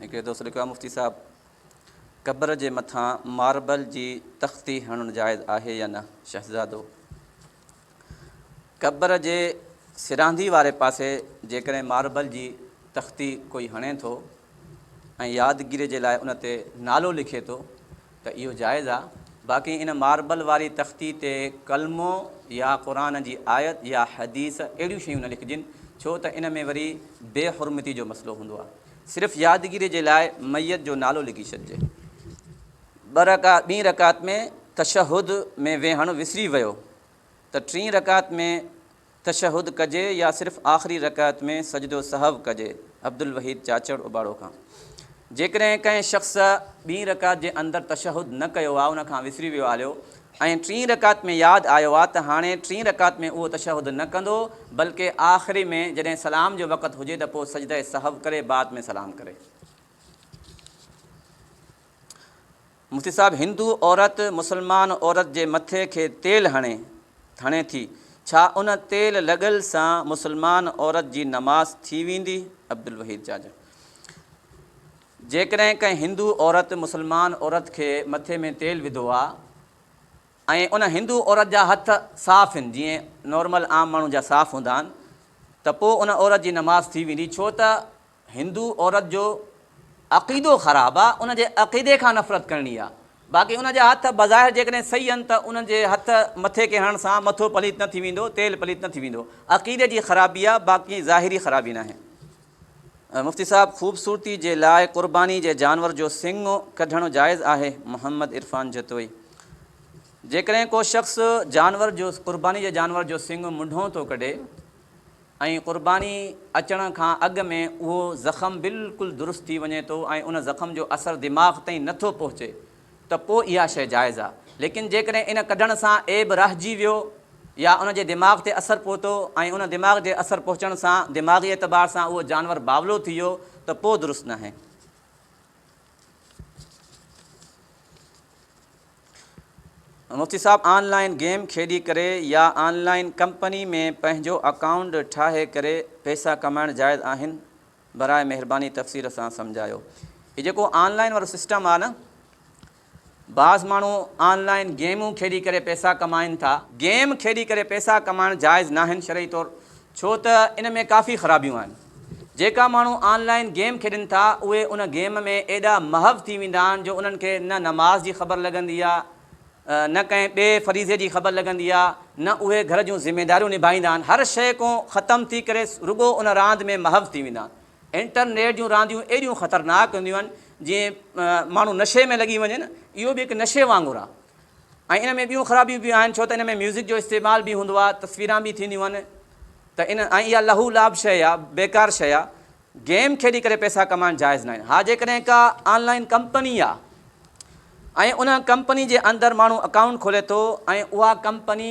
هڪڙي دوست لکيو آهي مفتي صاحب قبر جي مٿان ماربل جي تختي هڻڻ جائز آهي يا نه شهزادو قبر جي سراندي واري پاسي جيڪڏهن ماربل جي تختي ڪوئي هڻي ٿو ۽ يادگيري جي لاء ان تي نالو لکي ٿو ته اهو جائز آ، باقي ان ماربل واري تختي تي ڪلمو يا قرآن جي آيت يا حديث اهڙيون شيون نه لکجن ڇو ته ان ۾ وري بي حرمتي جو مسئلو هوندو آ. صرف يادگيري جي لاء ميت جو نالو لکي ڇڏجي. ٻه رڪع ٻين رڪعت ۾ تشهد ۾ ويهڻ وسري ويو ته ٽين رڪعت ۾ تشهد ڪجي يا صرف آخري رڪعت ۾ سجدو سهو ڪجي عبدالوحيد چاچڙ اباڙو کان جيڪڏهن ڪنهن شخص ٻين رڪعت جي اندر تشهد نه ڪيو آ ان کان وسري ويو آليو ۽ ٽين رڪعت ۾ ياد آيو آ ته هاڻي ٽين رڪعت ۾ اهو تشهد نه ڪندو بلڪه آخري ۾ جڏهن سلام جو وقت هجي ته پو سجده سهو ڪري بعد ۾ سلام ڪري. مفتي صاحب هندو عورت مسلمان عورت جي مٿي کي تيل هڻي هڻي ٿي ڇا ان تيل لڳل سان مسلمان عورت جي نماز ٿي ويندي عبدالوحيد جاجو جيڪڏهن ڪنهن هندو عورت مسلمان عورت کي مٿي ۾ تيل وڌو آ ۽ ان هندو عورت جا هٿ صاف هن جيئن نارمل عام ماڻهو جا صاف هوندا آهن ته پو ان عورت جي نماز ٿي ويندي ڇو ته هندو عورت جو عقيدو خراب آ ان جي عقيدي کان نفرت ڪرڻي آ باقي ان جا هٿ بظاهر جيڪڏهن صحيح هن ته انهن جي هٿ مٿي کي هڻڻ سان مٿو پليت نه ٿي ويندو تيل پليت نه ٿي ويندو عقيدي جي خرابي آ باقي ظاهري خرابي ناهي. مفتي صاحب خوبصورتي جي لاء قرباني جي جانور جو سنڱ ڪڍڻ جائز آهي محمد عرفان جتوئي جيڪڏهن ڪو شخص جانور جو قرباني جي جانور جو سنڱ منڍون ٿو ڪڍي ۽ قرباني اچڻ کان اڳ ۾ اهو زخم بلڪل درست ٿي وڃي ٿو ۽ ان زخم جو اثر دماغ تائين نه ٿو پهچي ته پوء اها شيء جائز آهي ليڪن جيڪڏهن ان ڪڍڻ سان عيب رهجي ويو يا ان جي دماغ تي اثر پهتو ۽ ان دماغ جي اثر پهچڻ سان دماغي اعتبار سان اهو جانور باولو ٿي ويو ته پوء درست ناهي. مفتي صاحب آن لائين گيم کيڏي ڪري يا آن لائين ڪمپني ۾ پنهنجو اڪائونٽ ٺاهي ڪري پئسا ڪمائڻ جائز آهن براء مهرباني تفصيل سان سمجهايو هي جيڪو آن لائين وارو سسٽم آ نه بعض ماڻهو آن لائين گيمون کيڏي ڪري پئسا ڪمائين ٿا، گيم کيڏي ڪري پئسا ڪمائڻ جائز ناهن شرعي طور ڇو ته ان ۾ ڪافي خرابيون آهن. جيڪا ماڻهو آن لائين گيم کيڏين ٿا اهي ان گيم ۾ ايڏا محو ٿي ويندا آهن جو انهن کي نه نماز جي خبر لڳندي آهي نه ڪنهن ٻئي فريضي جي خبر لڳندي آهي نه اهي گهر جون ذميداريون نڀائيندا آهن هر شيء ڪون ختم ٿي ڪري رڳو ان راند ۾ محو ٿي ويندا آهن. انٽرنيٽ جون رانديون ايڏيون خطرناڪ هونديون آهن جيئن ماڻهو نشي ۾ لڳي وڃي نه اهو به هڪ نشي وانگر آهي ۽ ان ۾ ٻيون خرابيون به آهن ڇو ته ان ۾ ميوزڪ جو استعمال به هوندو آهي تصويران به ٿينديون آهن ته ان ۽ اها لهو لعب شيء آهي بيڪار شيء آهي گيم کيڏي ڪري پئسا ڪمائڻ جائز ناهن ها جيڪڏهن ڪا آنلائن ڪمپني آهي ۽ ان ڪمپني جي اندر ماڻهو اڪائونٽ کولي ٿو ۽ اها ڪمپني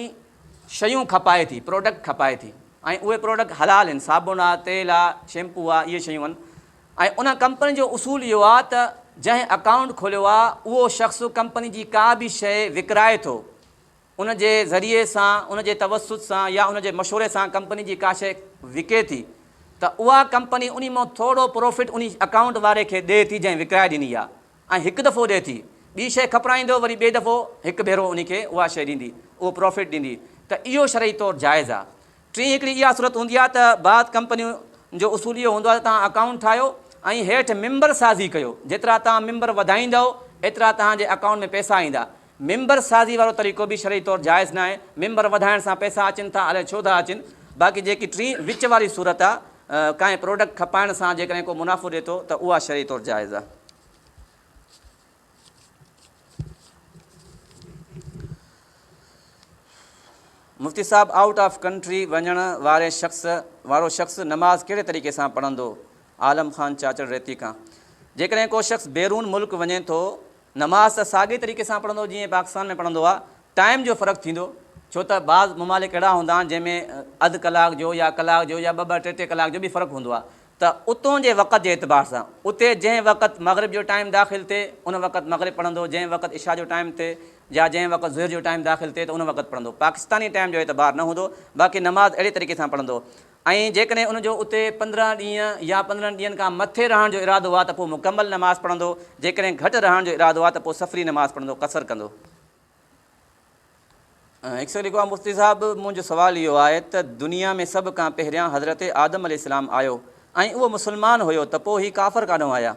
شيون کپائي ٿي پروڊڪٽ کپائي ٿي ۽ اهي پروڊڪٽ حلال هن، صابڻ آ، تيل آ، شيمپو آ، اهي شيون هن ۽ انهن ڪمپنين جو اصول اهو آ ته جنهن اڪائونٽ کوليو آ اهو شخص ڪمپني جي ڪا به شيء وڪرائي ٿو ان جي ذريعي سان ان جي توسط سان يا ان جي مشوري سان ڪمپني جي ڪا شيء وڪي ٿي ته اها ڪمپني انهي مان ٿورو پروفٽ انهي اڪائونٽ واري کي ڏي ٿي جنهن وڪرائي ڏني آ ۽ هڪ دفعو ڏئي ٿي ٻي شيء کپرائيندو وري ٻئي دفعو هڪ ڀيرو انهي کي اها شيء ڏيندي اهو پرافٽ ڏيندي ته اهو شرعي طور جائز آ. ٽين هڪڙي اها صورت هوندي آ ته بعض ڪمپنيون جو اصول اهو هوندو آ ته توهان اڪائونٽ ٺاهيو ۽ هيٺ ممبر سازي ڪيو جيترا توهان ممبر وڌائيندؤ ايترا توهان جي اڪائونٽ ۾ پئسا ايندا ممبر سازي وارو طريقو به شرعي طور جائز ناهي، ممبر وڌائڻ سان پئسا اچن ٿا الائي ڇو ٿا اچن، باقي جيڪي ٽين وچ واري صورت آ ڪانهن پروڊڪٽ کپائڻ سان جيڪڏهن ڪو منافعو ڏي ٿو ته اها شرعي طور جائز آ. مفتي صاحب آئوٽ آف ڪنٽري وڃڻ واري شخص وارو شخص نماز ڪهڙي طريقي سان پڙهندو عالم خان چاچڙ ريتي کان جيڪڏهن ڪو شخص بيرون ملڪ وڃي ٿو نماز ته ساڳئي طريقي سان پڙهندو جيئن پاڪستان ۾ پڙهندو آ ٽائيم جو فرق ٿيندو ڇو ته بعض ممالڪ اهڙا هوندا آهن جنهن ۾ اڌ ڪلاڪ جو يا ڪلاڪ جو يا ٻه ٻه ٽي ٽي ڪلاڪ جو به فرق هوندو آ ته اتون جي وقت جي اعتبار سان اتي جنهن وقت مغرب جو ٽائيم داخل ٿئي ان وقت مغرب پڙهندو جنهن وقت عشا جو ٽائيم ٿئي يا جنهن وقت ظهر جو ٽائيم داخل ٿئي ته ان وقت پڙهندو پاڪستاني ٽائيم جو اعتبار نه هوندو باقي نماز اهڙي طريقي سان پڙهندو ۽ جيڪڏهن ان جو اتي پندرهن ڏينهن يا پندرهن ڏينهن کان مٿي رهڻ جو ارادو آ ته پوء مڪمل نماز پڙهندو، جيڪڏهن گهٽ رهڻ جو ارادو آ ته پوء سفري نماز پڙهندو، قصر ڪندو. هڪ شخص لکيو آ مفتي صاحب منهنجو سوال اهو آهي ته دنيا ۾ سڀ کان پهريان حضرت آدم عليه السلام آيو ۽ اهو مسلمان هيو ته پوء هي ڪافر ڪاڏهون آيا؟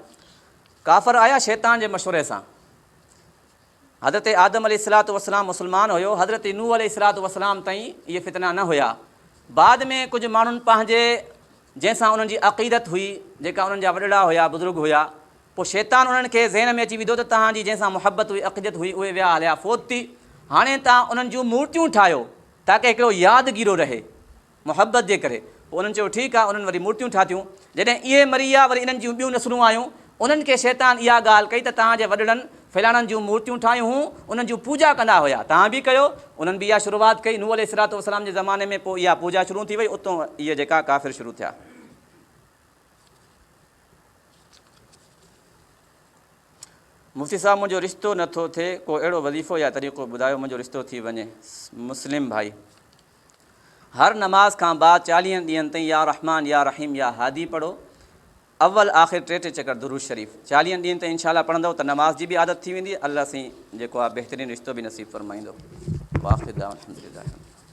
ڪافر آيا شيطان جي مشوري سان. حضرت آدم عليه الصلوة والسلام مسلمان هيو، حضرت نوح عليه الصلوة والسلام تائين اهي فتنا نه هيا. بعد ۾ ڪجهه ماڻهن پنهنجي جنهن سان انهن جي عقيدت هئي، جيڪا انهن جا وڏڙا هيا، بزرگ هيا، پوء شيطان انهن کي ذهن ۾ اچي وڌو ته تهان جي جنهن سان محبت هئي، عقيدت هئي، اهي ويا هليا فوت ٿي، هاڻي تهان انهن جون مورتيون ٺاهيو تاڪه هڪڙو يادگيرو رهي. محبت جي ڪري. پوء انهن چيو، ٺيڪ آهي، انهن وري مورتيون ٺاهتيون. جڏهن اهي مري ويا، وري انهن جون ٻيون نسلون آيون. انهن کي شيطان اها ڳالهه ڪئي ته توهان جي وڏڙن فلاڻن جون مورتيون ٺاهيون هون، انهن جون پوڄا ڪندا هيا، توهان به ڪيو. انهن به اها شروعات ڪئي، نوح عليه الصلوة والسلام جي زماني ۾، پوء اها پوڄا شروع ٿي وئي، اتون اهي جيڪا ڪافر شروع ٿيا. مفتي صاحب منهنجو رشتو نٿو ٿئي ڪو اهڙو وظيفو يا طريقو ٻڌايو منهنجو رشتو ٿي وڃي. مسلم ڀائي. هر نماز کان بعد چاليهن ڏينهن تائين يا رحمان يا رحيم يا هادي پڙهو. اول آخر ٽي ٽي چڪر درود شريف. چاليهن ڏينهن تائين انشاء الله پڙهندؤ ته نماز جي به عادت ٿي ويندي. الله سائين جيڪو آهي بهترين رشتو به نصيب فرمائيندو. واخر دعوانا الحمدلله رب العالمين.